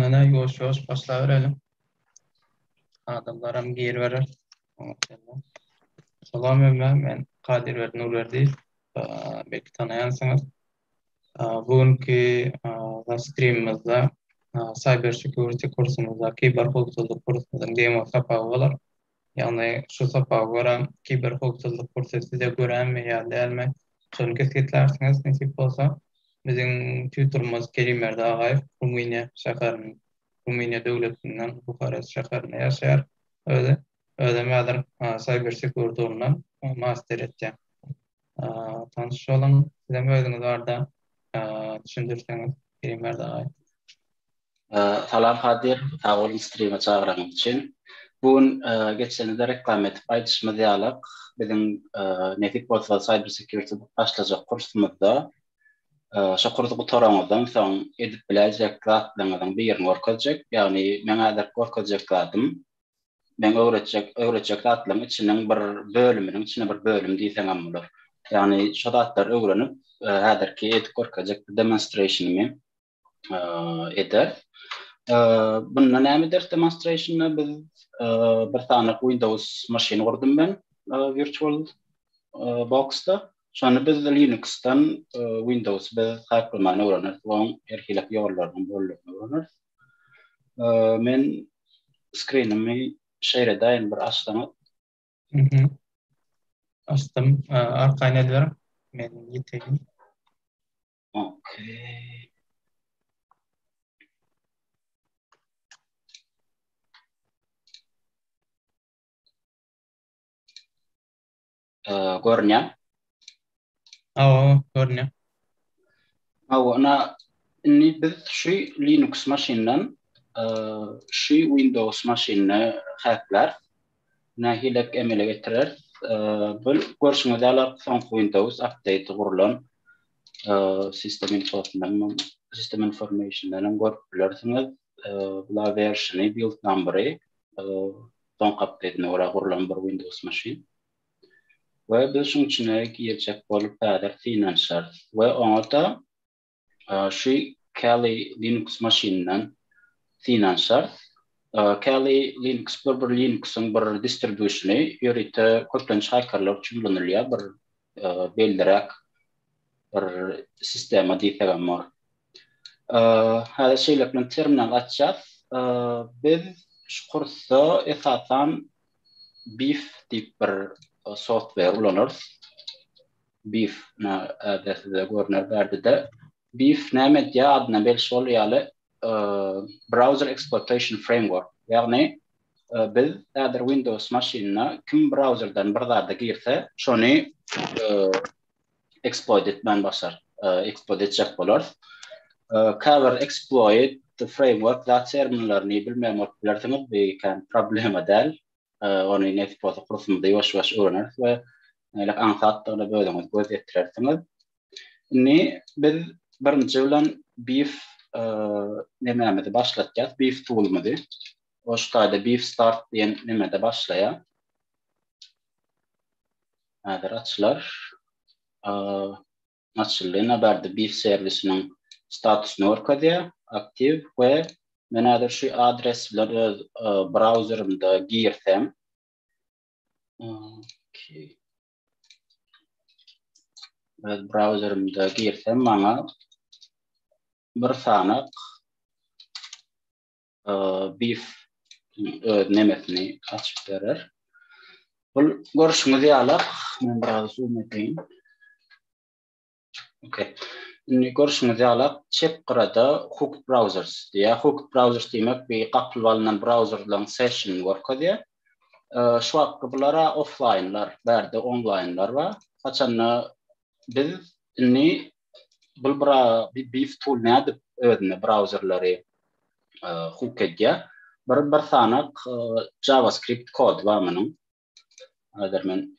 Ana ýoş ýoş başlaýar elim. Adamlaram gir berer. Salam ömrüm men Kadir Berdi Nurberdi. Belki tanaýansyňyz. Bu günki strimimizde Cyber Security kursumyzda kiber howpsuzlyk kursumyzyň demo sapagy bolar. Ýagny şu sapaga görä kiber howpsuzlyk kursy size göränmi ýa dälmi, şony kesgitlärsiňiz nesip bolsa. Biziň tutorymyz Kerim Berdiagaýew Rumyniýa şäherinden, Rumyniýa döwletinden, Buharest şäherinde ýaşaýar özi. Özem häzir Cyber Security ugrundan master etýär. Tanşalyň, sizem özüňiz barada düşündirseňiz Eýmir dagaý. Salam Kadyr, sag boluň strime çagyranyň üçin. Bu gün geçenizde reklama edip aýdyşymyz ýalyk, biziň nesip bolsa Cyber Security başlajak kursumyzda şo kursy gutaraňyzdan soň edip biläýjek zatlaryňyzyň birini görkezjek. Ýagny meň häzirki görkezjek zadym Meň öwretjek, öwretjek zatlaryň içiniň bir bölüminiň içine bir bölüm diýseňem bolar. Ýagny şo zatlary öwrenip, häzirki edip görkezjek bir demonstrationymy ederis. Bunda näme ederis demonstrationda biz bir sany Windows maşyn gurdum men virtual boxda. Şony biz Linuxdan Windows-y biz haklaman öwreneris we onuň her hili ýollarynyň bolandygyny öwreneris. Men skrinimi şeýle daýyn bir açsaňa. Mhm. Açdym. Arkaýyn ediber. Men ýeteýin. Okey. görünýär. Hawa, görünýär. Hawa, ina indi biz şu Linux maşyndan şu Windows maşynyna häkler nähili emele getirer? Bu görşüňiz ýaly soňky Windows update gurlan sistem infosundan, sistem informationdan görüp bilersiňiz. Bula werşini, build numbery, soňky apdetine görä gurlan bir Windows maşyn. We biz şuň içine girjek bolup häzir synanyşarys. We oňa-da şu Kali Linux maşynyndan synanyşarys. Kali Linux bir bir Linuxyň bir distribusiony, ýörite köplenç hakerler üçin ulanylýar, bir belliräk bir sistema diýsegem bor. Häzir şeýlelik bilen terminal açýas. Biz şu kursda esasan Beef diýip bir software ulanarys. Beef näde size görner bärdede. Beef näme edýär? Adyna belli şol ýaly Browser Exploitation Framework. Ýagny biz häzir Windows maşynyna kim brauzerden bir zada girse, şony exploit etmän başar, exploit etjek bolar. Käbir exploit framework zat terminlerini bilmeýän bolup bilersiňiz, bu kän problema däl. Ony nesip bolsa kursumyzda ýuwaş-ýuwaş öwreneris we nälik aňsatdygyna özüňiz göz ýetirersiňiz. Indi biz birinji bilen beef nemämizi başlatýas, beef toolumyzy. Ol şu taýda beef start diýen nemede başlaýar. Häzir açylar. Açyldy. Nabardy biz serwisiniň statusyny görkezýär. Aktiw we men häzir şu adres bilen öz brauzerimde girsem. Öz brauzerimde girsem maňa bir sanak beef öz nemesini açyp berer. Bul görüşüňiz ýaly, men biraz zoom edeýin. Okey. Indi görüşüňiz ýaly, çep gyrada hook browsers diýýär. Hook browsers diýmek bir gapylyp alnan brauzerlaryň session görkezýär. Şu wagtky bular offlaýnlar, bärde onlaýnlar bar. Haçanda biz indi bul bra bi beef tool nädip özüne brauzerleri hook edýär. Bir bir sanak JavaScript kod bar munuň. Hazir men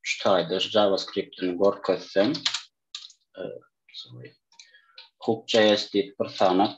şu taýda JavaScript-ini görkezsem, hook.js diýip bir sanak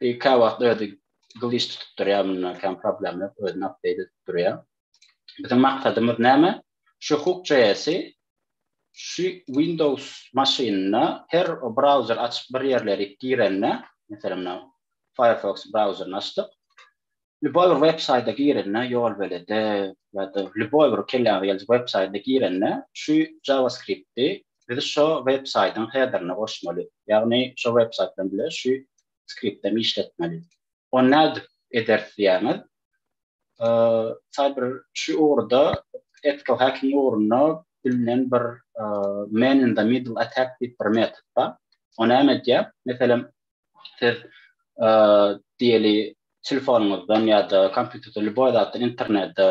Bir kawagt özi glitch tutup durýar munda hem problem ýok özüni update edip durýar. Biziň maksadymyz näme? Şu hook.js'i şu Windows maşynynda her browser açyp bir ýerleri girende, meselem, Firefox browserini açdyk. Lýuboý bir websaýta girende, ýolbelede ýa-da lýuboý bir kelläňize geljek websaýta girende, şu JavaScript-i biz şo websaýtyň hederine goşmaly. Ýagny şo websaýt bilen bile şu skript hem işletmeli. Ony nädip ederis diýýäňiz? Cyber şu ugurda ethical hacking ugrunda bilinen bir man in the middle attack diýip bir metod bar. O näme edýär? Meselem, Siz diýeli telefonyňyzdan ýa-da kompýuterden lýuboý zatdan internete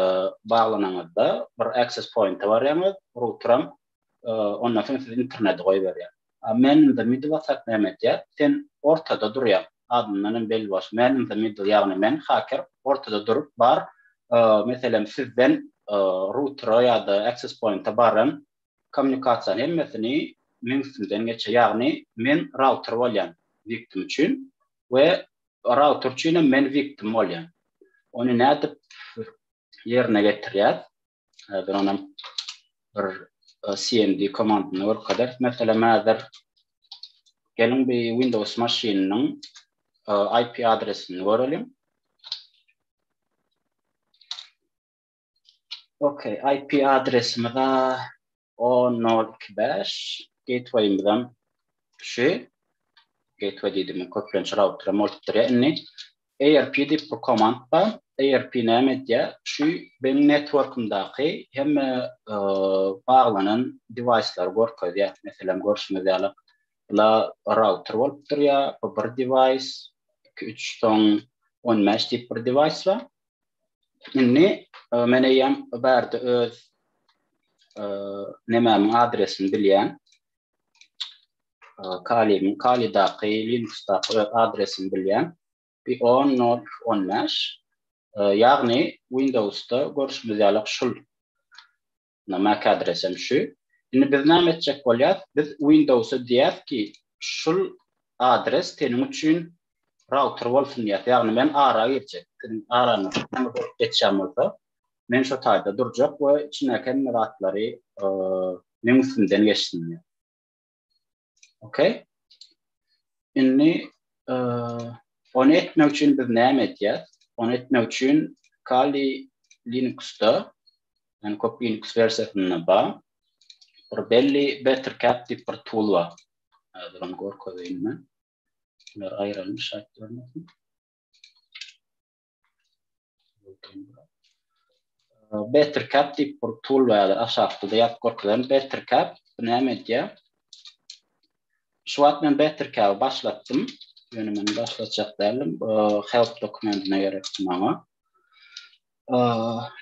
baglanyňyzda bir access pointa barýaňyz, routeram ondan soň sizi internete goýberýär. Man in the middle whatsapp näme edýär? Sen ortada durýaň. Adyndan hem belli bolşy man in the middle ýagny men haker ortada durup bar meselem sizden routera ýa-da access pointa baran Kommunikasiýa hemmesini meň üstümden geçýär. Ýagny men router bolýan wiktim üçin we router üçin hem men wiktim bolýan. Ony nädip ýerine getirýär? Häzir onam bir cmd komandyny görkezers. Meselem häzir geliň bir Windows maşynynyň IP adresini göreliň. Okey, IP adresimiz a 10.0.2.5, gateway-imiz hem şu. Gateway diýdim, köplenç router bolupdyr ýa indi. ARP diýip bir komand bar. ARP näme edýär? Şu benim networkymdaky hemme baglanan device-lary görkezýär. Meselem, görşüňiz ýaly, bula router bolup durýar, bu bir device, iki, üç, soň on bäş diýip bir device bar. Indi e, men eýýäm bärde öz e, nemämiň adresini bilýän. E, Kalimiň Kalidaky Linuxdaky öz adresini bilýän. Bir 10.0.15 e, ýagny Windowsda görşümiz ýaly şul Ynha mac adresem şu. Indi biz näme etjek bolýas? Biz Windowsa diýýäs ki, şul adres seniň üçin router bolsun diýýäs. Ýagny men ara girjek. Seniň araňa näme bolup geçýän bolsa, men şo taýda durjak we içindäki hemme zatlary meň üstümden geçsin diýýäs. Okey. Indi e, onu etmek üçin biz näme etýäs? Onu etmek üçin Kali Linuxda, yani köp Linux versiýasynda bar. Bir belli Bettercat diýip bir tool bar. Hazır onu görkezeýin men. Bunlar aýrylmış aýtdyrmasyn. Better cap diýip bir tool bardyr, aşakda-da ýazyp görkezerin. Better cap bu näme edýär? Şu wagt men Better cap-y başlatdym. Ýöne men başlatjak däldim. Help dokumentine gerekdi maňa.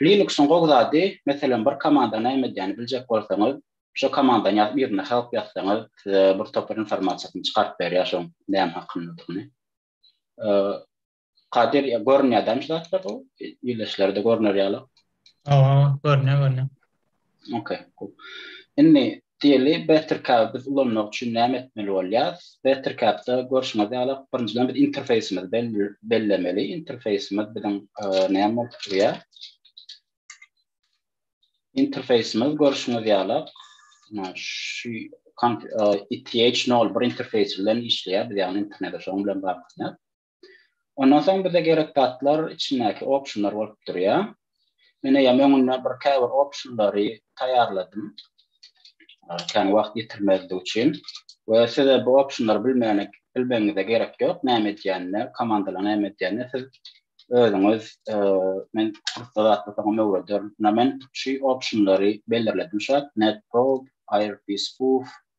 Linux-yň gowy zady, meselem, bir komanda näme edýänini biljek bolsaňyz, şo komandany ýazyp, yzyna help ýazsaňyz, size bir topar informasiýasyny çykaryp berýär şoň näme hakyndadygyny. Kadir ya görünýär dämi şu zatlar bu ýerleşlerde görüner ýaly. Owa, görünýär, görünýär. Okey, cool. Indi diýeli Bettercap biz ulanmak üçin näme etmeli bolýar? Bettercap-da görşüňiz ýaly birinjiden biz interfeýsimizi bellemeli. Interfeýsimiz biziň näme bolup durýar? Interfeýsimiz görşüňiz ýaly şu ETH01 interfeýsi bilen işleýär. Biz ýagny internete şoň bilen baglanyşýar. Ondan soň bize gerek zatlar içindäki optionlar bolup durýar. Men eýýäm öňünden bir käbir optionlary taýýarladym. Kän wagt ýitirmezlik üçin we size bu optionlary bilmäne bilmegiňize gerek ýok. Näme edýänini, komandalar näme edýänini siz özüňiz men kursda zatlasaňam öwrederin. Ýa men şu optionlary belirledim şu wagt, netprobe, irb spoof,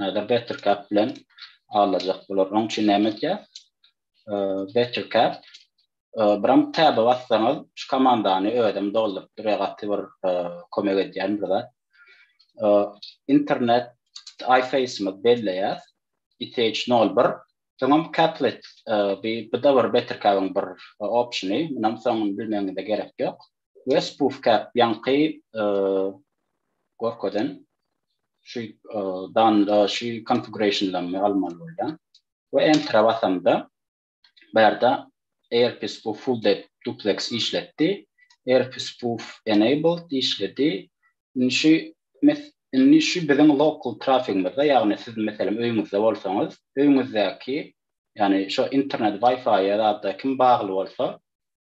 Häzir Bettercap bilen alajak bular. Oň üçin näme edýär? Bettercap biram tab bassaňyz, şu komandany özüm dolduryp durýar, gaty bir kömek edýän bir zat. Internet iface-my belleýär. ITH01 Soňam Caplet, bu-da bir Bettercap-yň bir opsiony. Munam soňuny bilmegiňize gerek ýok. Wes puf käp ýaňky gorkadan şu danda şu konfigurationlaryny almaly bolýan. We enter basamda bärde AirPis bu full depth duplex işletdi. AirPis bu enabled işledi. Indi şu indi şu biziň local trafikimizde ýagny siz meselem öýüňizde bolsaňyz öýüňizdäki ýagny şu internet wi-fi-ýa ýa-da kim bagly bolsa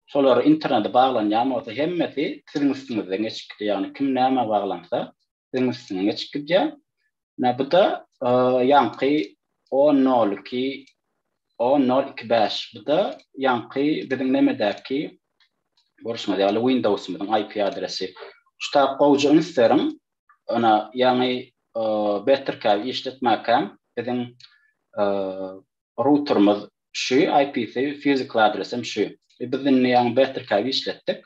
Şolar internete baglanýan bolsa hemmesi siziň üstüňizden geçip gidýär. Ýagny kim nämä baglansa siziň üstüňden geçip gidýär. Menä bu-da ýaňky o nol iki o nol iki bäş bu-da ýaňky biziň nemedäki görşüňiz ýaly Windowsymyzyň IP adresi. Şu tab gowja üns beriň. Ynha ýaňy Bettercab işletmäkäm biziň routerimiz şu IP-si physical adresem şu. Biz indi ýaňy Bettercab işletdik.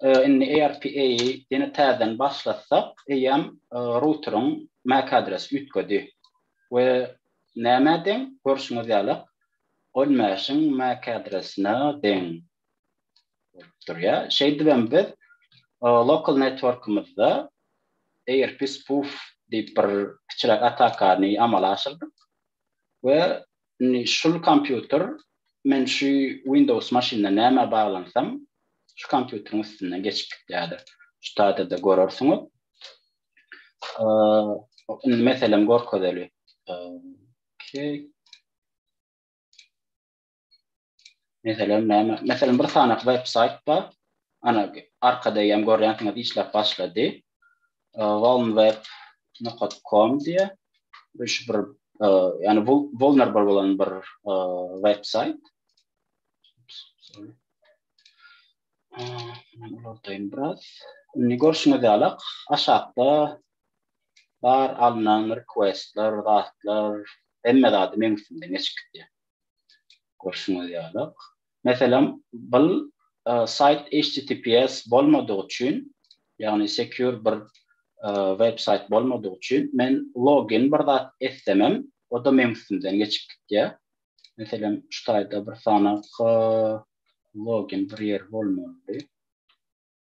Indi ARPA-y ýene täzeden başlatsak eýýäm routeriň mac adresi üýtgedi we nämä deň görşüňiz ýalak ol mesh-iň mac adresine deň bolup durýa. Şeýdibem biz local networkymyzda ARP spoof diýip bir kiçiräk atakany amala aşyrdyk. we indi şul kompýuter men şu Windows maşynda nämä baglansam şu kompýuteriň üstünden geçip gitýädir. Şu taýda-da görersiňiz. Indi meselem görkezeli. Okey. Meselem näme? Meselem bir sanaky websaýt bar. Ana arkada ýam görýänsiňiz işläp başlady. Walmweb.com diýe. Bu şu bir ýani bu vulnerable bolan bir websaýt. Men ulardaýyn biraz. Indi görşüňiz ýaly aşakda bar alnan requestler, zatlar, hemme zady meň üstümden geçip gitýär. Görşüňiz ýaly, meselem, bul saýt HTTPS bolmadygy üçin, ýagny secure bir web saýt bolmadygy üçin, men login bir zat etsemem, o-da meň üstümden geçip gitýär. Meselem, şu taýda bir sanaky login bir ýer bolmalydy.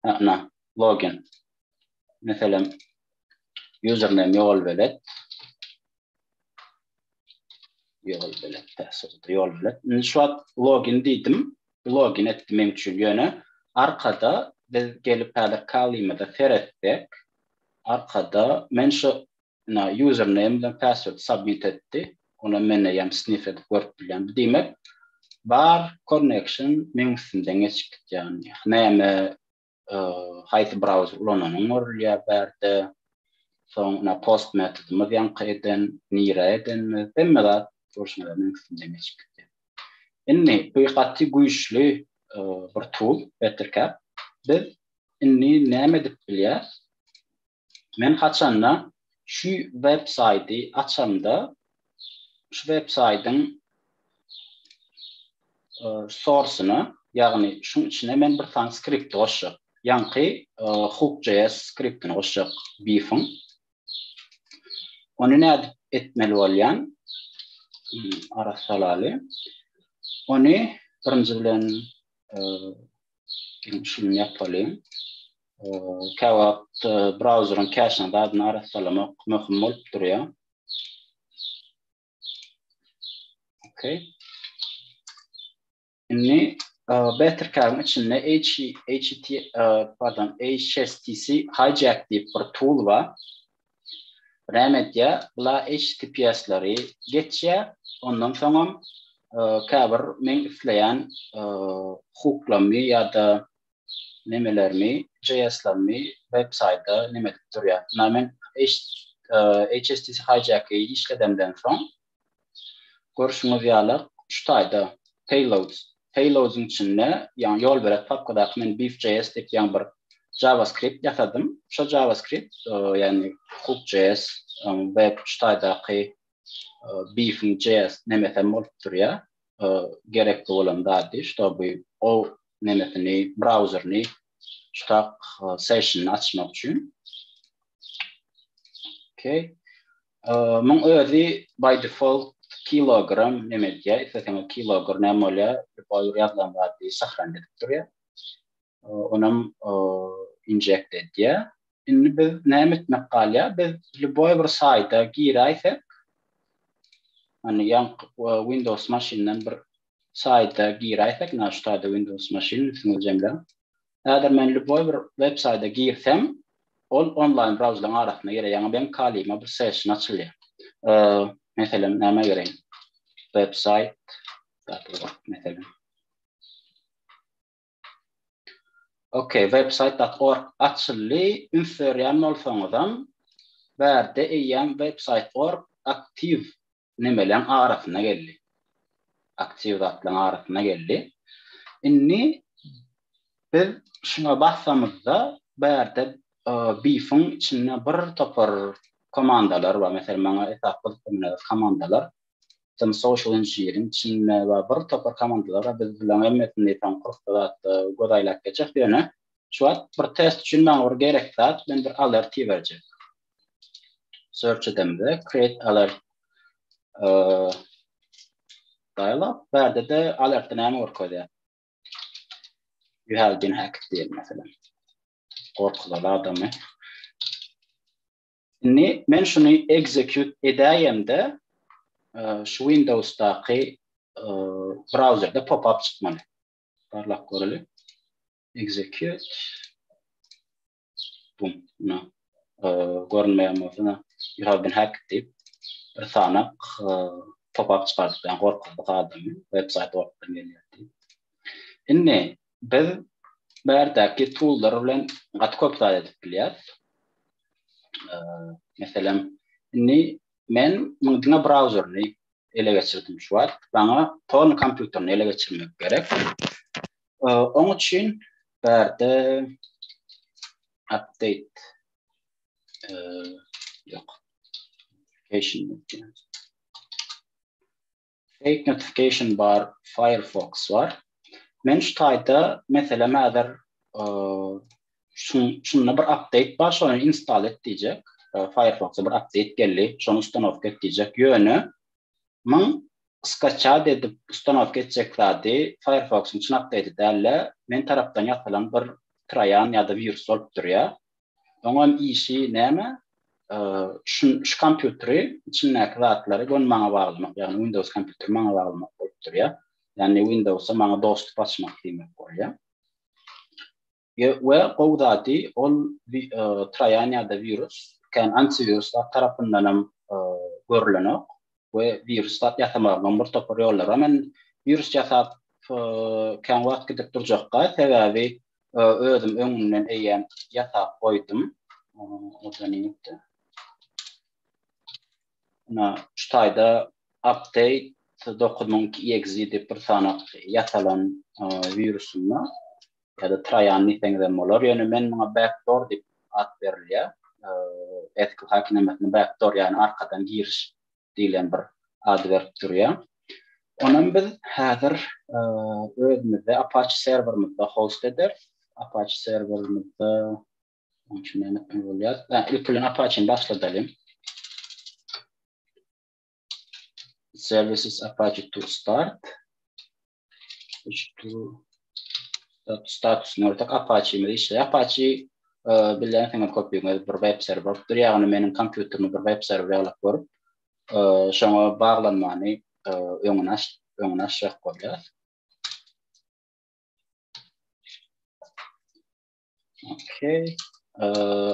Ana, login. Meselem, username ýol belet. Ýol belet, täsirde ýol belet. Indi şu wagt login diýdim. Login etdi men üçin ýöne arkada biz gelip häzir kalymyza seretsek, arkada men şu Ina username bilen password submit etdi. Ony men eýýäm sniff edip görüp bilýän. Bu diýmek bar connection meň üstümden geçip gidýär. Näme haýsy browser ulananyň görülýär bärde. Soň ina post metodymyz ýaňky eden, nirä edenimiz hemme zat görşüňiz ýaly meň üstümden geçip gidýär. Indi bu gaty güýçli bir tool Bettercap. Biz indi näme edip bilýäs? Men haçanda şu web saýty açamda şu web saýtyň sorsyna ýagny şuň içine men bir sany skripti goşjak. Ýaňky hook.js skriptini goşjak beefiň. Ony nädip etmeli bolýan? Ara salaly. Ony birinji bilen şuny ýapalyň. Käwagt brauzeriň käşine zadyny arassalamak möhüm bolup durýar. Okey. Indi Bettercard-yň içinde HTTP, pardon, HSTC Hijack diýip bir tool bar. Näme edýär? Bular HTTPS-leri geçýär. Ondan soňam käbir men isleýän hukuklamy ýa-da nemelermi jslarmy web saýda neme edip durýa na men HSTC hijack-i işledemden soň görşüňiz ýaly şu taýda payloads payloads-yň içinde ýagny ýol berek papkadaky men beefjs diýip ýaňy bir JavaScript ýasadym şo JavaScript ýagny hookjs web şu taýdaky beef-iň js nemesem bolup durýa gerekli bolan zady ştoby o nemesini brauzerini ştak sessionini açmak üçin okey muň özi by default kilogram neme edýär isteseňiz kilogram näme bolýar ýazlan zady sahran edip durýar onam injekt edýär. Indi biz näme etmek galýar? Biz lýuboý bir saýta giräýsek, hani ýan Windows maşyndan bir saýta giräýsek, näme şu taýda Windows maşyn üstüňiz jemle. Häzir men lýuboý bir web saýta girsem, ol onlaýn brauzerlaryň arasynda girer, ýaňy beň kalyma bir session açylýar. Meselem, näme gireýin? Web saýt, meselem. Ok, website.org açyldy, üns berýän bolsaňyzam, bärde eýýäm website.org aktiw nemeleň arasyna geldi. Aktiw zatlaryň arasyna geldi. Indi biz şuňa bassamyzda, bärde BIF-iň içinde bir topar komandalar bar. Meselem, maňa esasy gyzyklanýan komandalar Tim Social Engineering, Çinme we bir topar komandalara biz bilen hemmesini diýseň kursda zatda göz aýlap geçjek ýöne şu wagt bir test üçin maňa bir gerekli zat men bir alert iberjek. Search edemde create alert dialog bärde de alertde näme görkezýär? You have been hacked diýen mesela. Gorkuzaly adamy. Indi men şuny execute edäýemde, şu Windowsdaky brauzerde pop-up çykmaly. Barlap göreli. Execute. Bum, na. Görünmeýän bolsa, you have been hacked diýip bir sanak pop-up çykardyp, ýa gorkuzdyk adamy, website ortadan gelýär diýip. Indi Biz bärdäki tool'lar bilen gaty köp zat edip bilýäris. Meselem, indi men muňa diňe brauzerini ele geçirdim şu wagt. Maňa torn kompýuterini ele geçirmek gerek. Oň üçin bärde update ýok. Application Fake notification bar firefox bar. Men şu taýda meselem häzir şunda bir update bar şony install et diýjek. Firefox bir update geldi. Şony ustanowka et diýjek. Ýöne men skaçat edip ustanowka etjek zady Firefox-yň çyn update däl-de, men tarapdan ýasalan bir troýan ýa-da wirus bolup durýar. Oňam işi näme? Şu şu kompýuteri içindäki zatlary göni maňa baglamak, ýagny Windows kompýuteri maňa baglamak bolup durýar. Ýagny Windowsa maňa dostup açmak diýmek bolýar. Ýe, we gowy zady ol troýan ýa-da wirus kän antiwirus zat tarapyndanam görlenok we wirus zat ýasamagynyň bir topar ýollary bar. Men wirus ýasap kän wagt gidip durjakka, sebäbi özüm öňünden eýýäm ýasap goýdum. Ina, şu taýda update dokuz müň iki EXE diýip bir sanak ýasalan wirusynda ýa-da trojan diýseňiz hem bolar. Ýöne men muňa backdoor diýip at berilýär. SQL hakenamasynda backdoor ýagny arkadan giriş diýlen bir ad berip durýar. Onam biz häzir özümizde Apache serwerimizde host ederis. Apache serwerimizde Onçun näme etmeli bolýar? Ilki bilen Apache-ni başladalyň. Services Apache to start. status nörtek apaçi mi işe apaçi e, bilen sen kopýaňyz bir web serwer bolup dur ýagny meniň kompýuterimi bir web serwer ýalyk görüp e, şoňa baglanmany e, öňüni aç öňüni açjak bolýar Okey.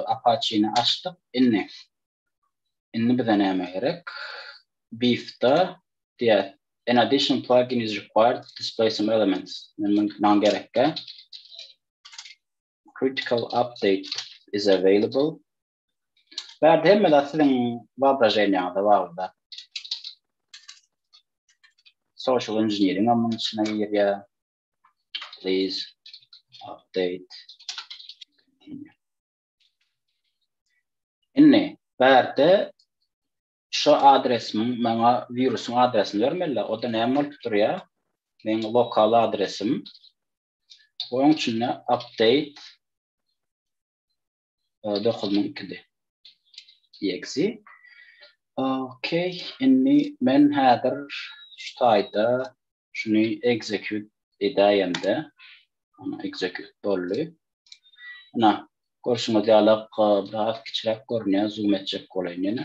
Apache-ni açdyk. Indi. Indi bize näme gerek? Beef-da diýär. An additional plugin is required to display some elements. Men maňa gerekkä. Critical update is available. Bärde hemme zat siziň wyobraženiýaňyza baglyda. Social engineering-am munuň içine girýär. Please update. Inni, bärde şu adresimiň maňa wirusyň adresini bermeli, o da näme bolup durýar? Meň lokal adresim. Oň üçin update 9 min ikide. Exe. Ok, inni men häzir şu taýda şuny execute edäýemde. Ana execute boldy. Ana görşüňiz ýaly biraz kiçiräk görünýär, zoom etjek bolaýyn ýene.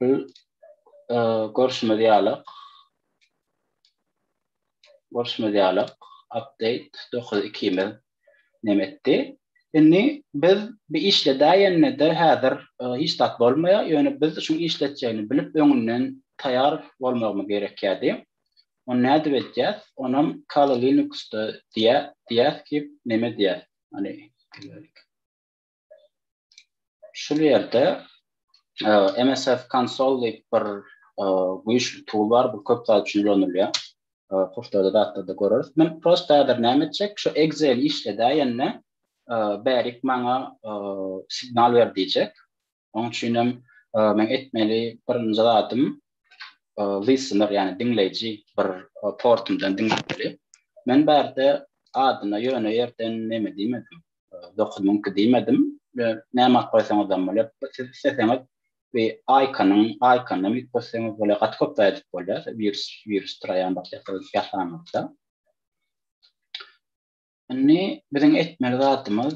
Biz e, görşümiz ýaly görşümiz ýaly update 9.2 miz näme etdi? Indi biz bu işledäýende-de häzir e, hiç zat bolmaýar, ýöne biz şu işletjegini bilip öňünden taýýar bolmagymyz gerekýärdi. Onu nädip edýäs? Onam Kali Linux-da diýär, diýýäs ki, näme diýýäs? Hani Şul ýerde MSF Console diýip bir güýçli tool bar, bu köp zat üçin ulanylýar. Kurslarda zatlarda göreris. Men prosta häzir näme etjek? Şu Excel işledäýende bärik maňa signal ber diýjek. Onuň üçin hem men etmeli birinji zadym listener, ýagny diňleýji bir portumdan diňlemeli. Men bärde adyna ýöne ýerden neme diýmedim. 9 müň ki diýmedim. Näme alyp goýsaňyz hem bolar. Siz isleseňiz we aýkanyň, aýkanyň ýük bolsaňyz bolar, gaty köp zat edip bolýar. Wirus, wirus traýan başlapdyr ýasanmazda. Indi biziň etmeli zatymyz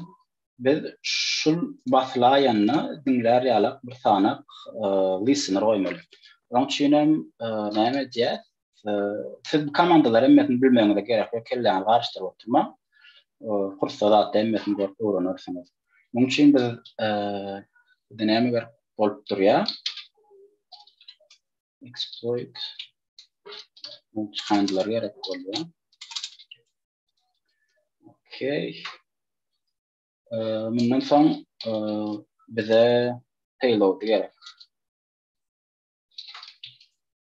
biz şul basylaýanda diňlär ýalak bir sanak e, listener goýmaly. Onuň üçin hem e, näme edýär? Siz bu komandalar hemmesini bilmegiňize gerek ýok, kelläňizi garyşdyryp oturmaň. Kursda zatda hemmesini görüp öwrenersiňiz. Munuň üçin biz bizde näme gerek bolup durýar? Exploit multihandler gerek bolýar. Okey. Mundan soň bize payload gerek.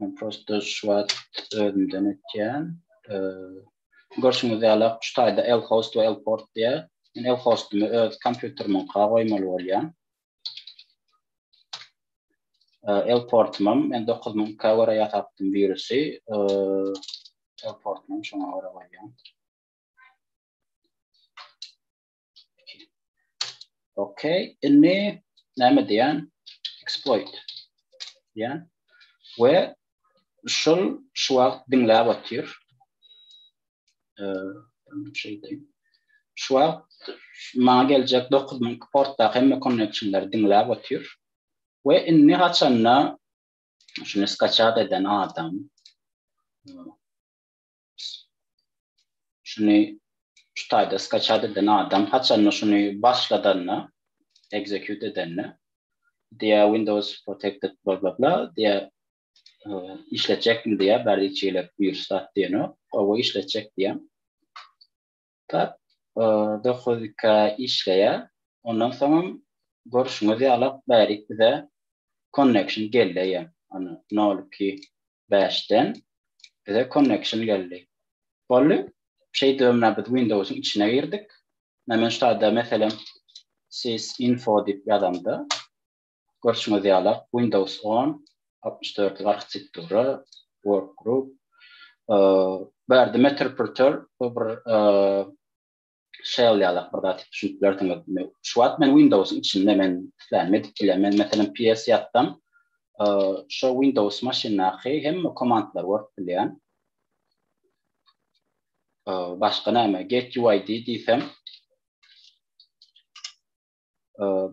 Men prosta şu wagt özümden etýän. Görşüňiz ýaly, şu taýda lhost we lport diýýär. Men lhostumy öz kompýuterimiňka goýmaly bolýan. Lportumam men 9000K görä ýasapdym wirusy. Lportumam şoňa görä goýýan. Okey, inni näme diýen? Exploit diýen. We şul şu wagt diňläp otyr. Eee, şu wagt maňa geljek 9000 portda hemme connectionlar diňläp otyr. We inni haçanda şunu skaçat eden adam Şuny şu taýda skaçat eden adam haçanda şuny başladanda, execute edende diýä Windows protected bla bla bla diýä işletjekmi diýä bärde içigelik wirus zat diýenok. Owa işletjek diýä. Tap, dokuz iki işleýär. Ondan soňam görşüňiz ýaly bärik bize connection geldi ýa ony nol iki bäşden bize connection geldi. Boldy. Şeýdip menä biz Windowsyň içine girdik. Menä men şu taýda meselem sys info diýip ýazamda Görşüňiz ýala, Windows on, altmyş dörtlik arhitektura, Workgroup. Bu ýerde Meterpreter, bu bir shell ýalak bir zat, düşünip bilersiňiz. Şu wagt men Windows-yň içinde, men islenme edip bilýän. Men, meselem, PS ýatsam, şo Windows maşyndaky hemme komandlary görüp bilýän. Başga näme, Get UID diýsem,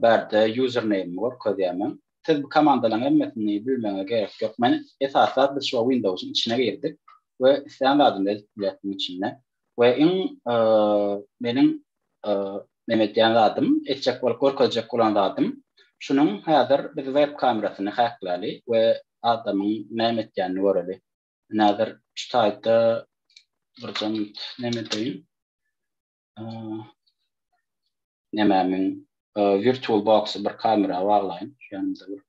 Bärde user name görkezýärmen. Siz bu komandalaryň hemmesini bilmegiňize gerek ýok. Men esaslap biz şuwa Windowsyň içine girdik we islän zadymy edip bileris munuň içinde. We iň meniň neme edýän zadym, etjek bolup görkezjek bolan zadym şunuň häzir biz web kamerasyny häkläli we adamyň näme etýänini göreli. Ine häzir şu taýda birje minut neme edeýin. nemämiň virtual boxy bir kamera baglaýyn. Ýanymda bir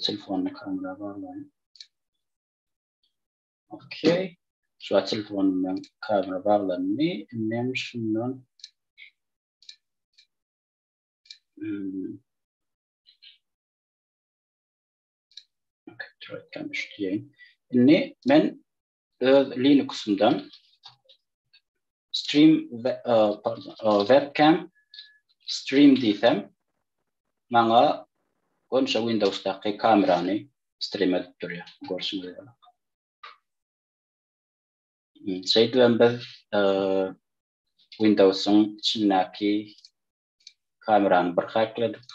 telefonly kamera baglaýyn. Okey. Şu telefonumdan kamera baglandy. Indi hem şundan Okey, troýkan üçlüýin. Indi men öz Linux'umdan stream e, pardon, e, webcam stream diýsem maňa onça Windows'daky kamerany stream edip durýar. Görşüňiz ýaly. Hmm, şeýdip hem biz e, Windows'un içindäki kamerany bir hakladyk.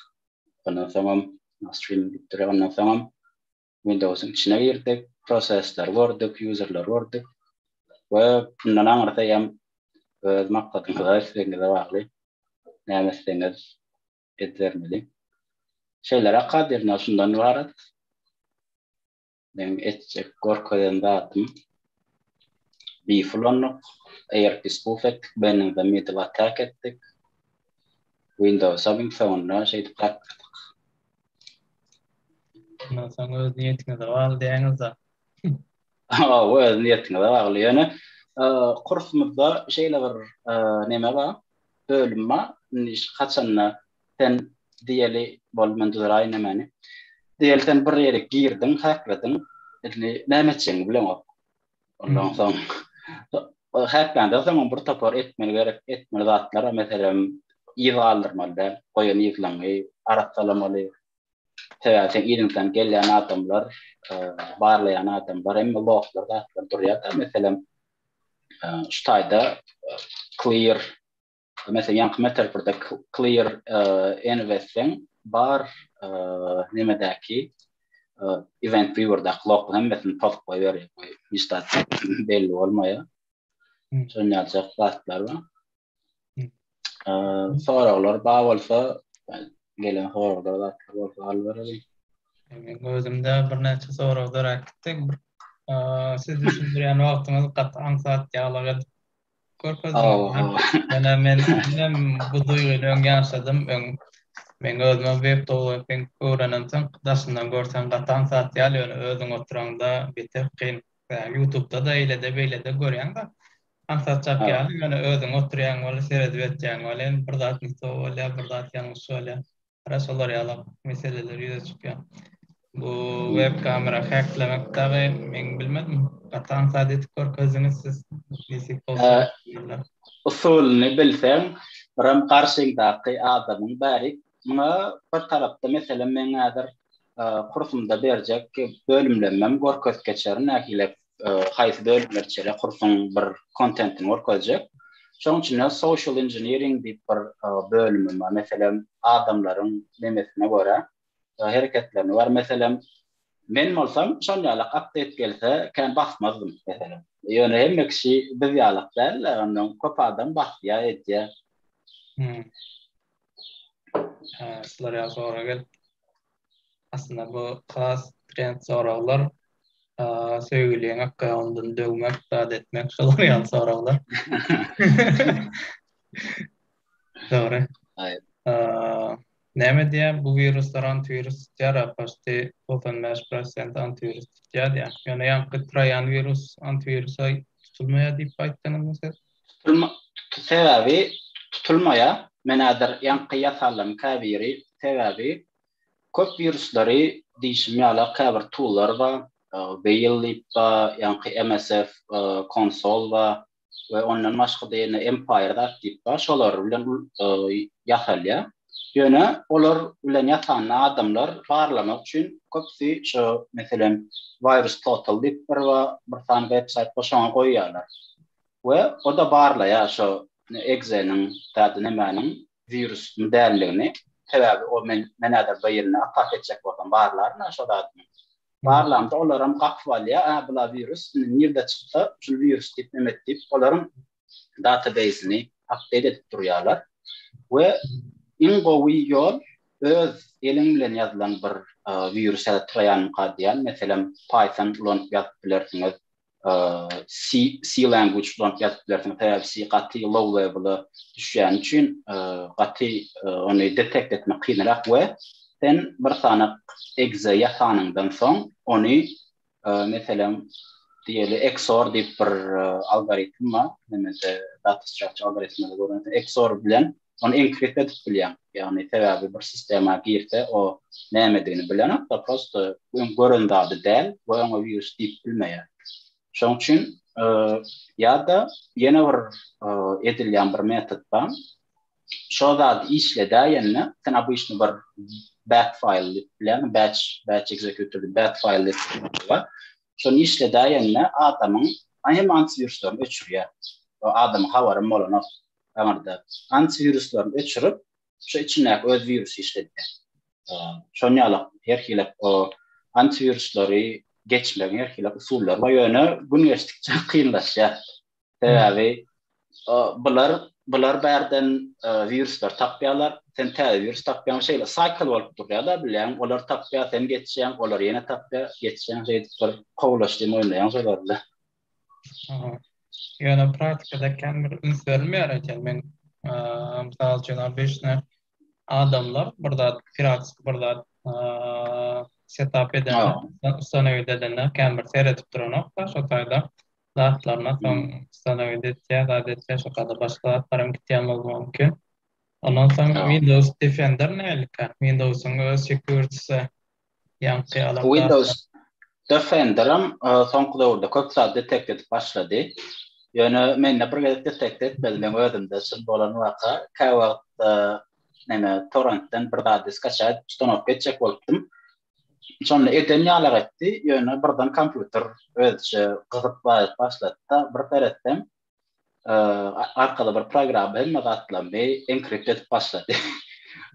Ondan soňam stream edip durýar. Ondan soňam Windowsyň içine girdik, prosesleri gördük, ýuzerleri gördük we bundan aňyrda hem öz maksadyňyza, islegiňize bagly näme etseňiz edibermeli. Şeýleräk kadirine şundan ybarat. Meň etjek görkezen zadym Beef ulandyk, ARP spoof etdik, Benningda middle attack etdik. Windowsam iň soňunda şeýdip gatnadyk. Ondan soň öz niýetiňize bagly diýýäňiz-de. Hawa, öz niýetiňize bagly. Ýöne kursumyzda şeýle bir näme bar, bölüm bar. Indi haçanda sen diýeli, bol men düzraýyn nämeni. Diýeli sen bir ýere girdiň, häklädiň. Indi näme etjegiňi bileňok. Ondan soň häkläňde soňam bir topar etmeli gerek, etmeli zatlara meselem yz galdyrmaly däl, goýan yzlaňy arassalamaly. Sebäbi sen yzyňdan gelýän adamlar, barlaýan adamlar hem loglar zatlar durýar-da, meselem şu taýda clear Meselem, ýaňky metaforda clear enw etseň, bar nemedäki event viewerdaky logyň hemmesini pozup goýberýär. Bu hiç zat belli bolmaýar. Şonýaljak zatlar bar. Soraglar bar bolsa, gelen soraglar zatlar bolsa alyp bereliň. Meň özümde birnäçe sorag döräp gitdi. Siz düşündirýän wagtyňyz gaty aňsat ýaglyk edip Görkezdim. Ýöne men hem bu duýgyny öň ýaşadym. Öň men özümem webtowerking öwrenemsoň daşyndan görseň gatan zat ýaly ýöne özüň oturaňda beter kyn. Ýutubda-da eýlede beýlede görýäňda aňsatjak ýaly ýöne özüň oturýaň weli seredip etýäň weli bir zat ne to bolýar bir zat ýalňyş bolýar. Hara şolar ýalak meseleler ýüze çykýar. Bu web kamera häklemek dagy men bilmedim. Gaty aňsat edip görkezdiňiz siz. Nesip bolsa görkezerler. Usulyny bilseň, biram garşyňdaky adamyň bärik. Muňa bir tarapda meselem meň häzir kursumda berjek bölümlemem görkezip geçerin nähili haýsy bölümleri içerýär, kursuň bir kontentini görkezjek. Şonuň üçin hem social engineering diýip bir bölümim bar. Meselem, adamlaryň nemesine görä, hereketlerine görä, meselem, men bolsam şol ýaly update gelse, kän basmazdym, meselem. Ýöne hemme kişi biz ýaly däl-de, ondan köp adam basýar, edýär. Şular ýaly sorag gelipdi. Aslynda bu has trend soraglar. Söýgüliň akgaýawundan döwmek, zat etmek şolar ýaly soraglar. Dogry. Aýyp. Näme diýýär bu wiruslar antiwirus tutýar a poşti 95% antiwirus tutýar diýýär. Ýöne ýaňky traýan wirus antiwirusa tutulmaýar diýip aýtdyňyzmy siz? Sebäbi tutulmaýa men häzir ýaňky ýasallaryň käbiri sebäbi köp wirusleri diýşim ýala käbir toollar bar Veil diýip bar ýaňky MSF konsol bar we ondan başgada ýene Empire zat diýip bar şolar bilen ýasalýa ýöne olar bilen ýasanda adamlar barlamak üçin köpüsi şo meselem Virustotal diýip bir bar bir sany websaýt bar şoňa goýýalar we o-da barlaýar şo egzeniň dady nämäniň wirusmy däldigini, sebäbi o men men häzir birine atak etjek bolsam barlaryn-a şo zadyny. Barlamda olaram gapyp alýar, a bula wirus indi nirde çyksa şul wirus diýip neme et diýip olaryň databeýsini apdeýt edip durýarlar we iň gowy ýol öz eliň bilen ýazylan bir wirus ýa-da troýanmyka diýýän meselem python ulanyp ýazyp bilersiňiz C language bilen ýazyp bilersiň, sebäbi C gaty low level-a düşýäni üçin gaty ony detect etmek kynrak we sen bir sany exe ýasanyňdan soň ony meselem diýeli XOR diýip bir algoritm bar, näme-de data structure algoritminde gören XOR bilen Ony enkriptd edip bilýäň. Ýagny sebäbi bir sistema girse o nämedigini bilenokda prosto öň gören zady däl we oňa wirus diýip bilmeýär. Şoň üçin ýa-da ýene bir edilýän bir metod bar. Şo zady işledäýende sen obyçny bir bat faýl diýip bilýän batch batch executor diýip bat faýl diýip bar. Şony işledäýende adamyň hem antiwiruslaryny öçürýär. O adamyň habarym bolanok. aňyrda antiwiruslarny öçürip, şu içindäki öz wirusy işledýär. Şonuň ýaly her hili o antiwiruslary geçmegiň her hili usullary bar, ýöne gün geçdikçe kynlaşýar. Sebäbi bular bular bärden wiruslar tapýarlar, sen täze wirus tapýaň, şeýle saýkl bolup durýar-da, bilýän, olar tapýar, sen geçýäň, olar ýene tapýar, geçýäň, şeýdip bir kowlaşdy, oýnaýaň şolar bilen. Ýöne praktikada känbir üns berilmeýär eken. Men, mysal üçin, obyçny adamlar bir zat, piratski bir zat setap edende, ustanowiýt edende känbir seredip duranokda, şo taýda zatlaryna soň ustanowiýt etýär, zat etýär, şo taýda başga zatlar hem gitýän bolmagy mümkin. Ondan soň Windows Defender nähilikä? Windows-yň öz sekuriti Ýaňky alan zat. Windows Defenderam soňky döwürde köp zat detekt edip başlady. Ýöne mende bir gezek detekt etmedi. Meň özümde şul bolan waka. Käwagt näme torrentden bir zady skaçaýa edip ustanowka etjek bolupdym. Şonda eden ýalak etdi. Ýöne birden kompýuter özüçe gyzyp baryp başlady-da, bir seretsem, arkaly bir programma hemme zatlaryny enkript edip başlady.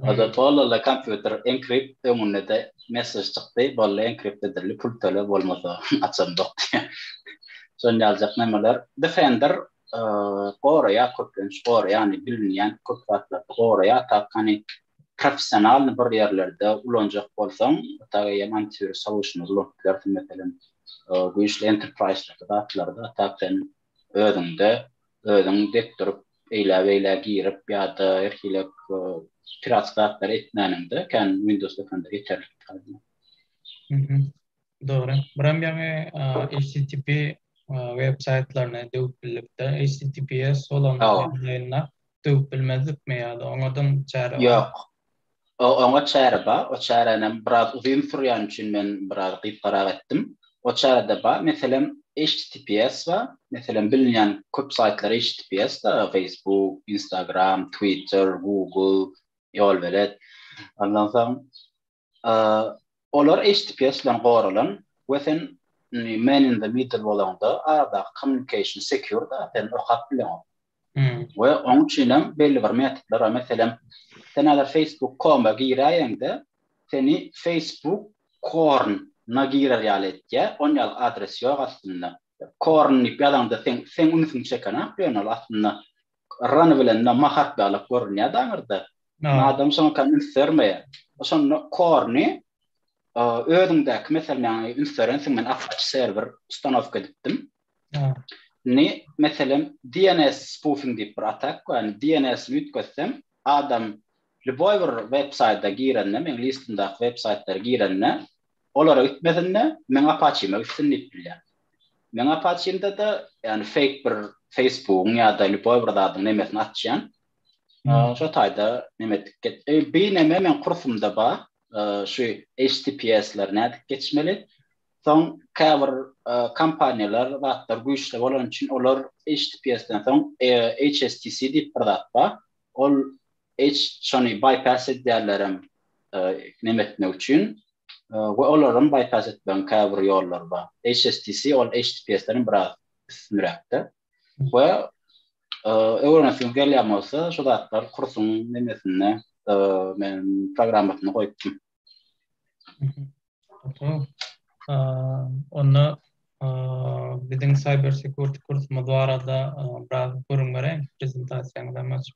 Oda tollala kompýuter enkript öňünde de messež çykdy, bolly enkript edildi, pul töle bolmasa açandok diýe. Şon ýaljak nemeler. Defender goraýar köplenç goraýany bilinýän köp zatlarda goraýar tak hany professionalny bir ýerlerde ulanjak bolsaň tak eýýäm antiwirus solution ulanyp bilersiň meselem güýçli enterprise zatlarda tak sen özüňde özüň dek durup eýläbeýlä girip ýa-da her hili piratska zatlary etmäniňde kän windows dökende ýeterlik taýynlar. Mhm. Dogry. Buram ýaňy HTTP web saýtlaryny döwüp bildik-de, HTTPS bolan döwüp bilmezdikmi ýa-da oňadam çäre barmy? Ýok. Oňa çäre bar. O çäränem biraz uzyn sürýäni üçin men biraz gysgarak etdim. O çärede bar. Meselem, HTTPS bar. Meselem, bilinýän köp saýtlar HTTPS-da, Facebook, Instagram, Twitter, Google, Ýolbelet. Ondan soň Olar HTTPS bilen goralan we sen man in the middle bolanda arada communication secure da sen okap bilen. Ve onun içinem belli bir metodlar, meselem, sen alar facebook.com-a giräýeňde, seni facebook korn-na girer ýaly etýä, on ýaly adres ýok aslynda. Korn diýip ýazanda sen sen ünsüňi çeken ak ýöne ol aslynda Rany bilen Mahat baglyk görünýär daňyrda. Adam şoňa kan üns bermeýär. Şonda Korny özüňdäki meselem ýaňy üns berensiň men Apache serwer ustanowka edipdim. Ni meselem DNS spoofing diýip bir atak bar. Yani DNS-ni üýtgetsem adam lýuboý bir web saýta girende, meň listimdäki web saýtlara girende Olara gitmesin-de, meň Apaçime gitsin diýip bilýän. Meň Apaçimde-de, ýagny feýk bir Facebookyň ýa-da lýuboý bir zadyň nemesini açýan. Şo taýda neme etdik get. Bir neme meň kursumda bar, şu HTTPS-leri nädip geçmeli. Soň käbir kompaniýalar, zatlar güýçli bolany üçin olar HTTPS-den soň HSTC diýip bir zat bar. Ol Eýç şony baýpass edýärler hem neme etmek üçin we olar hem baýpass etmegiň käbir ýollary bar. HSTC ol HTTPS-den hem biraz üstünräkde we öwrenesiňiz gelýän bolsa şu zatlar kursuň nemesinde men programmasynda goýupdym. Onda biziň cyber security kursumyz barada biraz gürrüň beräýiň prezentasiýaňyzam açyp.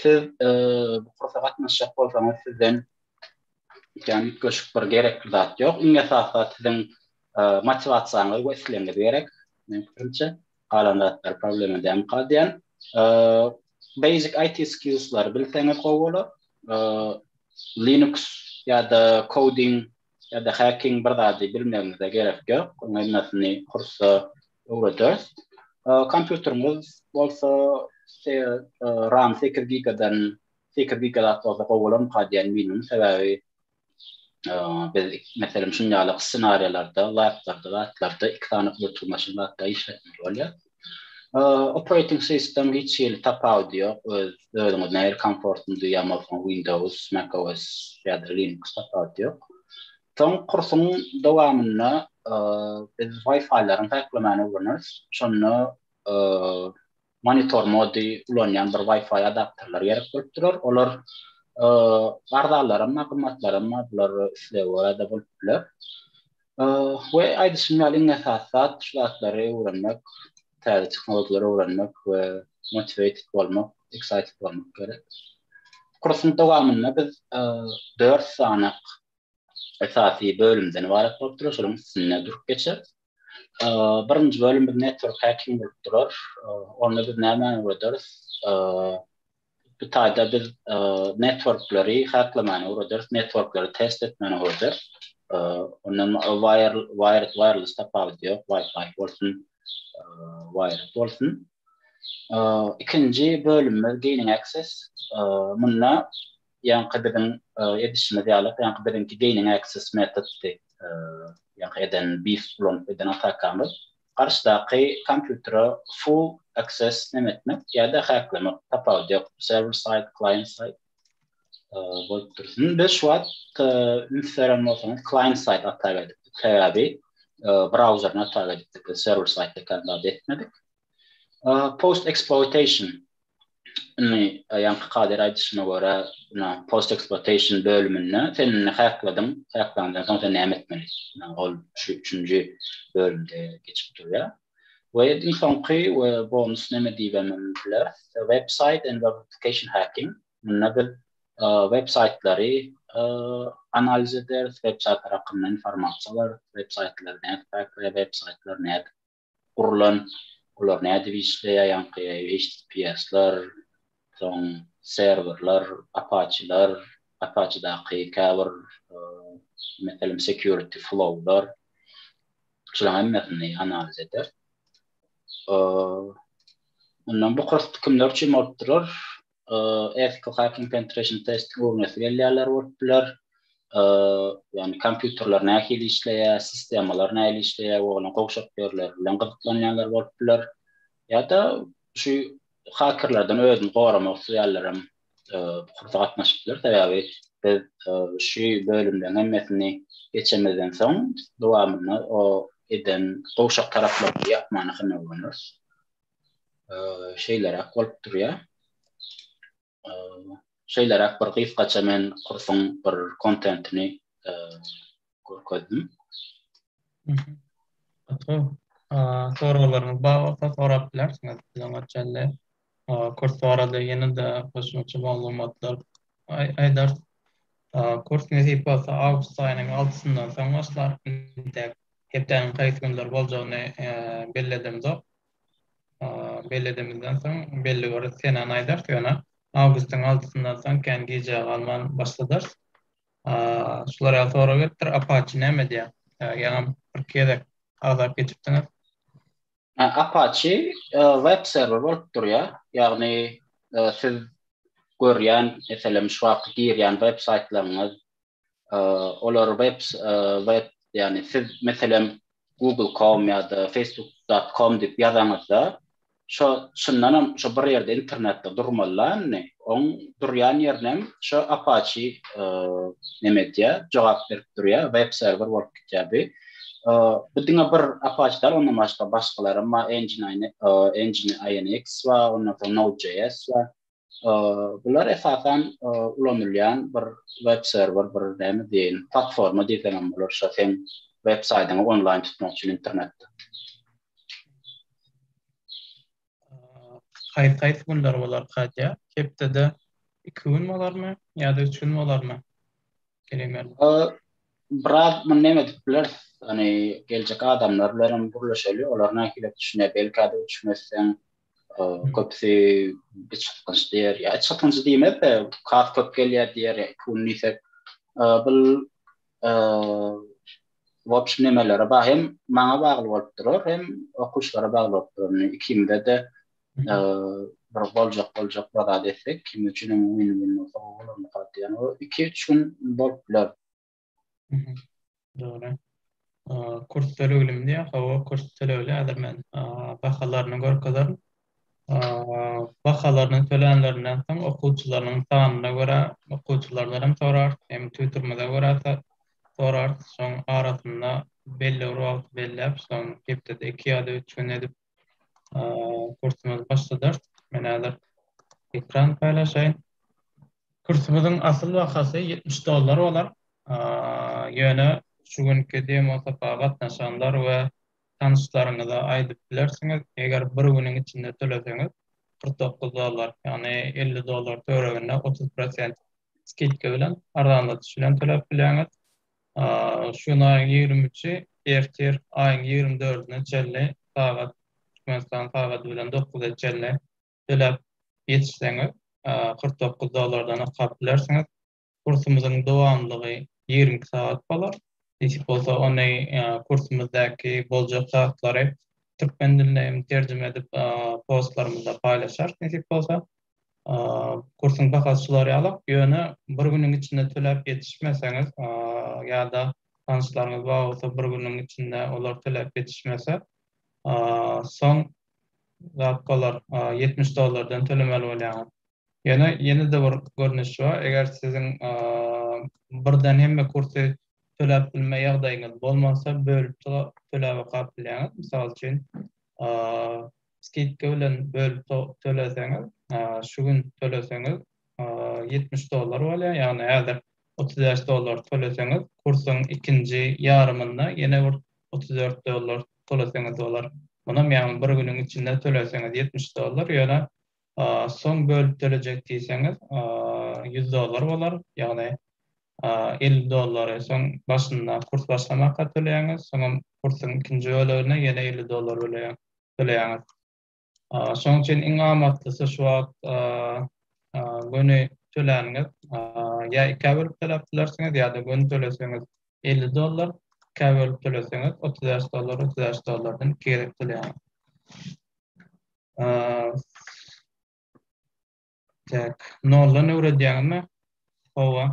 Siz bu kursa gatnaşjak bolsaňyz sizden ýan göşük bir gerekli zat ýok. Iň esasy zat siziň motiwasiýaňyz we islegiňiz gerek. Men pikrimçe, galan zatlar problema däl galýan. Basic IT skills-lary bilseňiz gowy bolar. Linux ýa-da coding ýa-da häkiň bir zady bilmeginize gerek ýok, oň hemmäsini kursda öwrederis. Kompýuteriňiz bolsa ram sekiz gigadan sekiz giga zat bolsa gowy bolarmyka diýen minimum sebäbi biz meselem şuny ýaly ssenariýalarda, laplarda, zatlarda iki sany gluturmaşyn zatda işletmeli bolýar. Operating system hiç hili tapawudy ýok, öz özüňiz nähili komfortly duýýan bolsaňyz Windows, Mac OS ýa-da Linux tapawudy ýok. Soň kursuň dowamynda biz Wi-Fi-laryň häklemani öwreneris. Şonda monitor mody ulanýan bir Wi-Fi adapterler gerek bolup durar. Olar arzalaram, gymmatlaram bular islege görä-de bolup biler. We aýdyşym ýaly iň esasy zat şu zatlary öwrenmek, täze tehnologiýalary öwrenmek we motiwated bolmak, excited bolmak gerek. Kursuň dowamynda biz dört sany esasy bölümden ybarat bolup durar, şolaryň üstünde durup geçeris. Birinji bölüm biz network hacking bolup durar. Onda biz nämäni öwrederis? Bu taýda biz networkleri haklamäni öwreders, networkleri test etmäni öwreders. Onda wired wireless tapawudy ýok, wifi bolsun, wired bolsun. Ikinji bölümimiz gaining access. Munda ýaňky biziň edişimiz ýaly, ýaňky biziňki gaining access metoddy. Ýaňky eden beast ulanyp eden atakamyz. Garşydaky kompýutere full access neme etmek ýa-da häklemek tapawudy ýok. Server side, client side bolup dur. Indi biz şu wagt üns beren bolsaňyz client side ata berdik. Sebäbi browseryny ata berdik. Server side ekany zat etmedik. Post exploitation Indi ýaňky kadir aýdyşyna görä, ina post eksploatation bölüminde sen indi häkladyň, häklandan soň sen näme etmeli? Ina ol şu üçünji bölümde geçip durýar. We iň soňky we bonus näme diýibem biler, web saýt and web application hacking. Munda biz web saýtlary analiz ederis, web saýtlary hakynda informasiýa alarys, web saýtlary nädip häkleýär, web saýtlary nädip gurlan, olar nädip işleýär, ýaňky HTTPS-ler, soň serwerler, Apache-ler, Apache-daky käbir meselem security flow-lar, şularyň hemmesini analiz eder. Ondan bu kurs kimler üçin bolup durar? Ethical Hacking Penetration Test öwrenesi gelýänler bolup biler. Ýagny kompýuterler nähili işleýär, sistemalar nähili işleýär we olaryň gowşak ýerleri bilen gyzyklanýanlar bolup biler. Ýa-da şu hakerlerden özüni goramak isleýänler hem bu kursa gatnaşyp biler. Sebäbi biz şu bölümleriň hemmesini geçemizden soň dowamynda o eden gowşak taraplarymyzy ýapmana synag ulanarys. şeýleräk bolup durýar. Şeýleräk bir gysgaça men kursuň bir kontentini görkezdim. Gaty soraglaryňyz bar bolsa sorap bilersiňiz. Biziň öçende kurs barada ýene-de goşmaça maglumatlar aýdar. Kurs nesip bolsa awgust aýynyň altysyndan soň başlar. Hepdäniň haýsy günler boljagyny belledimzok. belledimizden soň belli bir senany aýdarys ýöne awgustyň altysyndan soň kän gijä galman başladarys şular ýaly sorag gelipdir apaçi näme diýýär ýaňam bir gezek agzap geçipdiňiz apaçi e, web serwer bolup durýar ýagny e, siz görýän meselem şu wagt girýän web saýtlaryňyz olar web web ýagny siz meselem google.com ýa-da facebook.com diýip ýazaňyzda şo şundan hem şo bir ýerde internetde durmaly indi oň durýan ýerine hem şo apache neme edýä jogap berip durýa web serwer bolup gitýä bi bu diňe bir apache dal ondan başga başgalar hem bar engine engine inx bar ondan soň node.js bar Bular esasan ulanylýan bir web serwer, bir näme diýeýin, platforma diýseň hem bolar, şo seň web saýdyňy onlaýn tutmak üçin internetde. Haýsy-haýsy günler bolar Katýa? Hepdede iki gün bolarmy ýa-da üç gün bolarmy? Biraz muny näme edip bileris, ony geljek adamlar bilen hem gürleşeli, olar nähili düşünýär, belki-de üç gün etseň, köpüsi iç gytgynç diýer. Ýa iç gytgynç diýmez-de, kas köp gelýär diýer, pul diýsek. Bul wobşem nemelere bagly, hem maňa bagly bolup durar, hem okuwçylara bagly bolup durar. Indi ikimize-de bir boljak boljak bir zat etsek, ikimiz üçin hem win-win bolsa gowy bolar, ynha diýýän. Ol iki-üç gün bolup biler. Dogry. Kurs töleglim diýär. Hawa, kurs tölegli. Häzir men bahalaryny görkezerin. Bahalaryny tölänlerinden soň okuwçylarynyň sanyna görä okuwçylardan hem sorar, hem tüwdürmede görä sorar. Şoň arasynda belli bir wagt belläp, şoň hepdede iki ýa-da üç gün edip Kursumyzy başladarys. Men häzir ekran paýlaşaýyn. Kursumyzyň asyl bahasy 70 dollar bolar. Ýöne şu günki demo sapaga gatnaşanlar we tanyşlaryňyza aýdyp bilersiňiz, eger bir günüň içinde töleseňiz 49 dollar, ýagny 50 dollar töwereginde 30 prosent skidka bilen arzanlatyş bilen töläp bilýäňiz. Şu gün aýyň ýigrimi üçi, ertir aýyň ýigrimi dördüne çenli sagat Türkmenistan sagady bilen dokuza çenli töläp ýetişseňiz, kyrk dokuz dollardan okap bilersiňiz. Kursumyzyň dowamlylygy ýigrimi iki sagat bolar. Nesip bolsa, ony kursumyzdaky boljak zatlary türkmen diline hem terjime edip postlarymyzda paýlaşarys nesip bolsa. kursuň bahasy şular ýalyk, ýöne bir günüň içinde töläp ýetişmeseňiz ýa-da tanyşlaryňyz bar bolsa bir günüň içinde olar töläp ýetişmese, soň zat bolar, ýetmiş dollardan tölemeli bolýaňyz. Ýöne ýene-de bir görnüşi bar, eger siziň birden hemme kursy töläp bilme ýagdaýyňyz bolmasa, bölüp töläbokap bilýäňiz. Mysal üçin, skidka bilen bölüp töleseňiz, şu gün töleseňiz ýetmiş dollar bolýar, ýagny häzir otuz bäş dollar töleseňiz, kursuň ikinji ýarymynda ýene bir otuz dört dollar töleseňiz bolar. Munam ýagny bir günüň içinde töleseňiz ýetmiş dollar, ýöne soň bölüp tölejek diýseňiz ýüz dollar bolar, ýagny elli dollary soň başynda kurs başlamaka töleýäňiz, soňam kursuň ikinji böleginde ýene elli dollar böleýär. bileýäňiz. Şonuň üçin iň amatlysy şu wagt göni töläniňiz ýa ikä bölüp töläp bilersiňiz ýa-da göni töleseňiz elli dollar, ikä bölüp töleseňiz otuz bäş dollar, otuz bäş dollardan iki gezek töleýäňiz. Täk noldan öwredýäňmi? Hawa,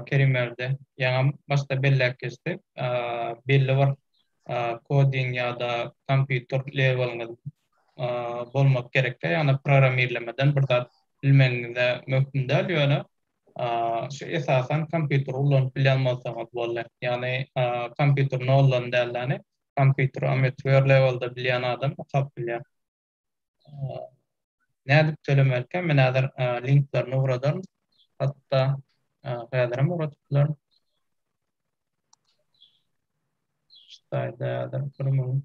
Kerimberdi ýaňam başda belläp geçdi. Belli bir koding ýa-da kompýuter leweliňiz bolmak gerek-dä, ýagny programmirlemeden bir zat bilmegiňiz-ä möhüm däl, ýöne şu esasan kompýuteri ulanyp bilýän bolsaňyz boldy. Ýagny kompýuteri noldan däl-de, kompýuteri ametiwer lewelde bilýän adam okap bilýär. Nädip tölemelkä? Men häzir linklerini ugradaryn. Hatda häzir hem ugradyp bilerin. Ştaýda häzir bir müň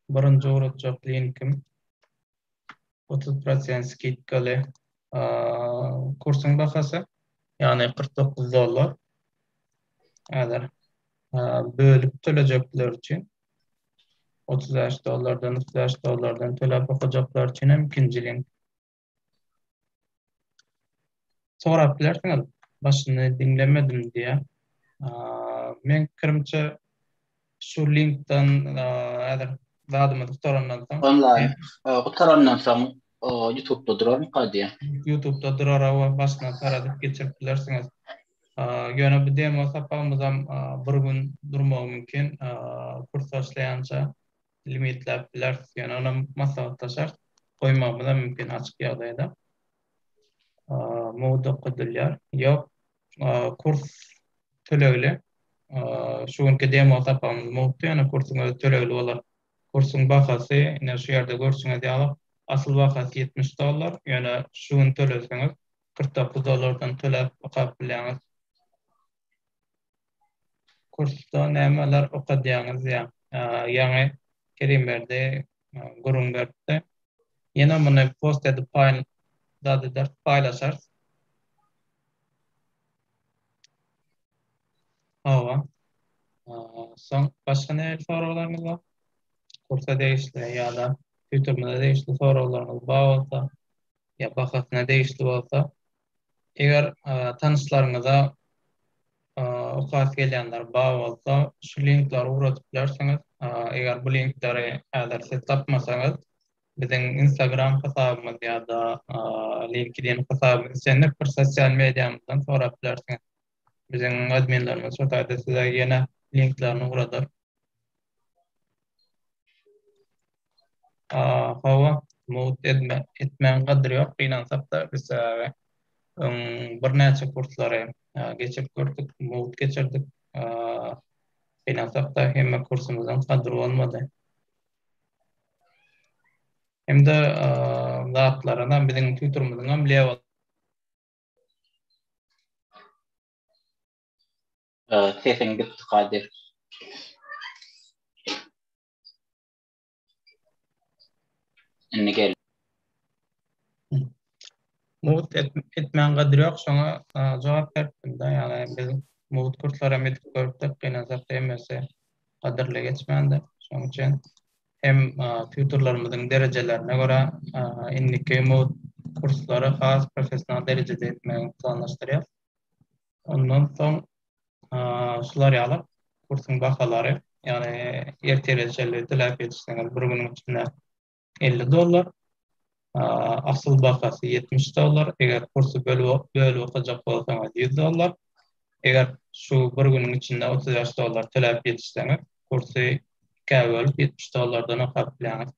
birinji ugradjak linkim. otuz prosent skidkaly kursuň bahasy, ýagny kyrk dokuz dollar. Häzir bölüp tölejekler üçin otuz bäş dollardan, otuz bäş dollardan töläp okajaklar üçin hem ikinji link. Sorap bilersiňiz, başyny diňlemedim diýýär. Meň pikirimçe, şu linkden häzir zadymyzy gutarandan soň. Onlaýn gutarandan soň Ýutubda durarmyka diýýär. Ýutubda durar hawa, başyna saradyp geçirip bilersiňiz. Ýöne bu demo sapagymyzam bir gün durmagy mümkin, kurs başlaýança. limitläp bileris. Ýöne onam maslahatda şert goýmagymyzam mümkin açyk ýagdaýda. Mugt okadylýar. Ýok, kurs tölegli. Şu günki demo sapagymyz mugtdy, ýöne kursuň özi tölegli bolar. Kursuň bahasy, ine şu ýerde görşüňiz ýaly, asyl bahasy ýetmiş dollar, ýöne şu gün töleseňiz kyrk dokuz dollardan töläp okap bilýäňiz. Kursda nämeler okadýaňyz ýa ýaňy Kerimberdi gürrüň beripdi. Ýene muny post edip dadydarys, paýlaşarys. Hawa. Soň başga nähili soraglaryňyz bar? Kursa degişli ýa-da Ýutubymyza degişli soraglaryňyz bar bolsa ýa bahasyna degişli bolsa Eger tanyşlaryňyza okasy gelýänler bar bolsa, şu linkleri ugradyp bilersiňiz. Eger bu linkleri häzir siz tapmasaňyz, biziň Instagram hasabymyz ýa-da LinkedIn hasabymyz islendik bir sosial mediamyzdan sorap bilersiňiz. Biziň adminlerimiz şu taýda size ýene linklerini ugradyr. Hawa, mugt etmegiň gadyry ýok. Gynansakda, biz sebäbi öň birnäçe kurslary geçirip gördük, mugt geçirdik. Gynansakda, hemme kursumyzyň gadyry bolmady. Hem-de zatlaryna biziň tutorymyzyňam lew. Sesiň gitdi Kadyr. Indi gel. Mugt etmäň gadyr ýok şoňa jogap beripdimda ýagny biz mugt kurslar hem edip görüpdik gynansak hemmesi gadyrly geçmändir şoň üçin hem tutorlarymyzyň derejelerine görä indiki mugt kurslary has professional derejede etmegi planlaşdyrýas Ondan soň şular ýaly kursuň bahalary, ýagny ertir erjeli diläp ýetişseňiz bir günüň içinde elli dollar, asyl bahasy ýetmiş dollar, eger kursy bölüp okajak bolsaňyz ýüz dollar, eger şu bir günüň içinde otuz bäş dollar töläp ýetişseňiz kursy ikä bölüp ýetmiş dollardan okap bilýäňiz.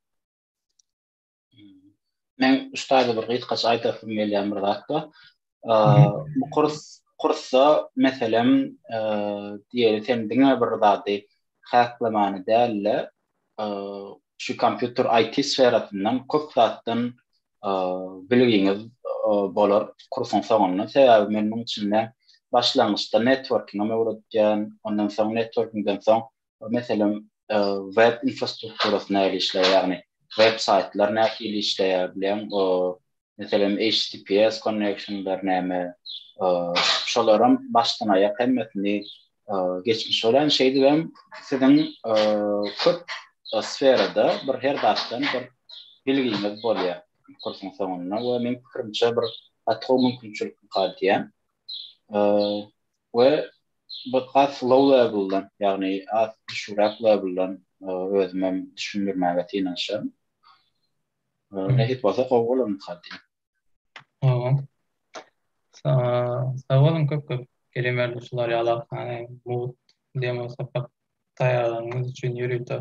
Men uçtayda bir gysgaça aýtasym gelýän bir zat bar. Bu kurs kursa meselem diýeli sen diňe bir zady haslamany däl-de şu kompýuter IT sferasyndan köp zatdan bilgiňiz bolar kursuň soňunda. Sebäbi men munuň üçin-de başlangyçda networking-ä öwretýän, ondan soň networking-den soň Meselem, web infrastrukturasy nähili işleýär, ýagny web saýtlar nähili işleýär bilen, meselem, HTTPS connectionlar näme, şolaram başdan-aýak hemmesini geçmiş bolan, şeýdip hem siziň köp sferada bir her zatdan bir bilgiňiz bolýar kursuň soňunda we meň pikirimçe bir gaty gowy mümkinçilik diýýän. we bir has slow level-dan, ýagny has düşügräk level-dan özümem düşündirmäge synanyşaryn. Nesip bolsa gowy bolar mysal üçin. Hawa. Sag boluň köp köp. Kerim Erdogşular ýalak hany mugt demo sapak taýýarlanyňyz üçin ýörite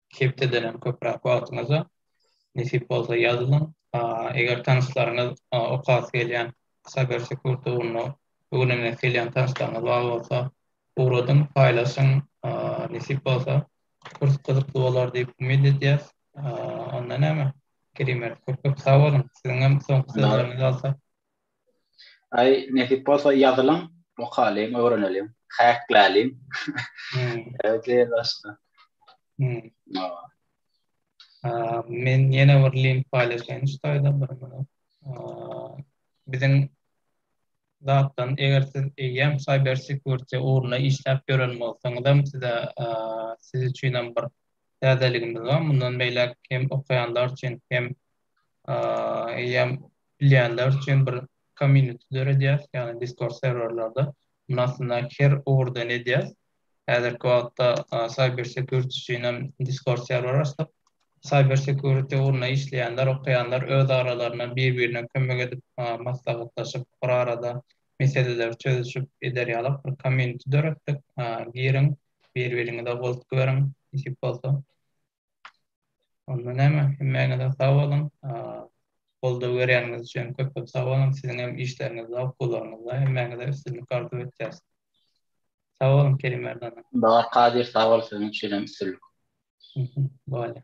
Hepdeden hem köpräk wagtyňyza nesip bolsa ýazylyň. Eger tanyşlaryňyz okasy gelýän Cybersecurity ugrunda öwrenesi gelýän tanyşlaryňyz bar bolsa ugradyň, paýlaşyň. Nesip bolsa kurs gyzykly bolar diýip umyt edýäs. Onda näme Kerim ýer köp köp sag boluň. Siziňem soňky sözleriňizi alsak. Aý, nesip bolsa ýazylyň, okalyň, öwreneliň, häkläliň. Öýdýän başga. Men ýene bir link paýlaşaýyn şu taýdan bir minut. Biziň zatdan eger siz eýýäm cyber security ugrunda işläp ýören bolsaňyzam size siz üçinem bir täzeligimiz bar. Mundan beýläk hem okaýanlar üçin hem eýýäm bilýänler üçin bir community döredýäs, ýagny Discord serwerlerde. Muny aslynda her ugurdan edýäs. Häzirki wagtda cyber security üçin hem Discord serwer açdyk. Cyber security ugrunda işleýänler, okaýanlar öz aralarynda bir-birine kömek edip, maslahatlaşyp, bir arada meseleleri çözüşip eder ýaly bir community döretdik. Giriň, bir-biriňize goltgy beriň, nesip bolsa. Onda näme, hemmäňize sag boluň. Goldaw berýäniňiz üçin köp-köp sag boluň. Siziň hem işleriňizde, okularyňyzda hemmäňize üstünlik arzuw etýäs. Sag boluň Kerim Merdan. Bahar Kadyr sag bol siziň üçin hem üstünlik. Bolýar.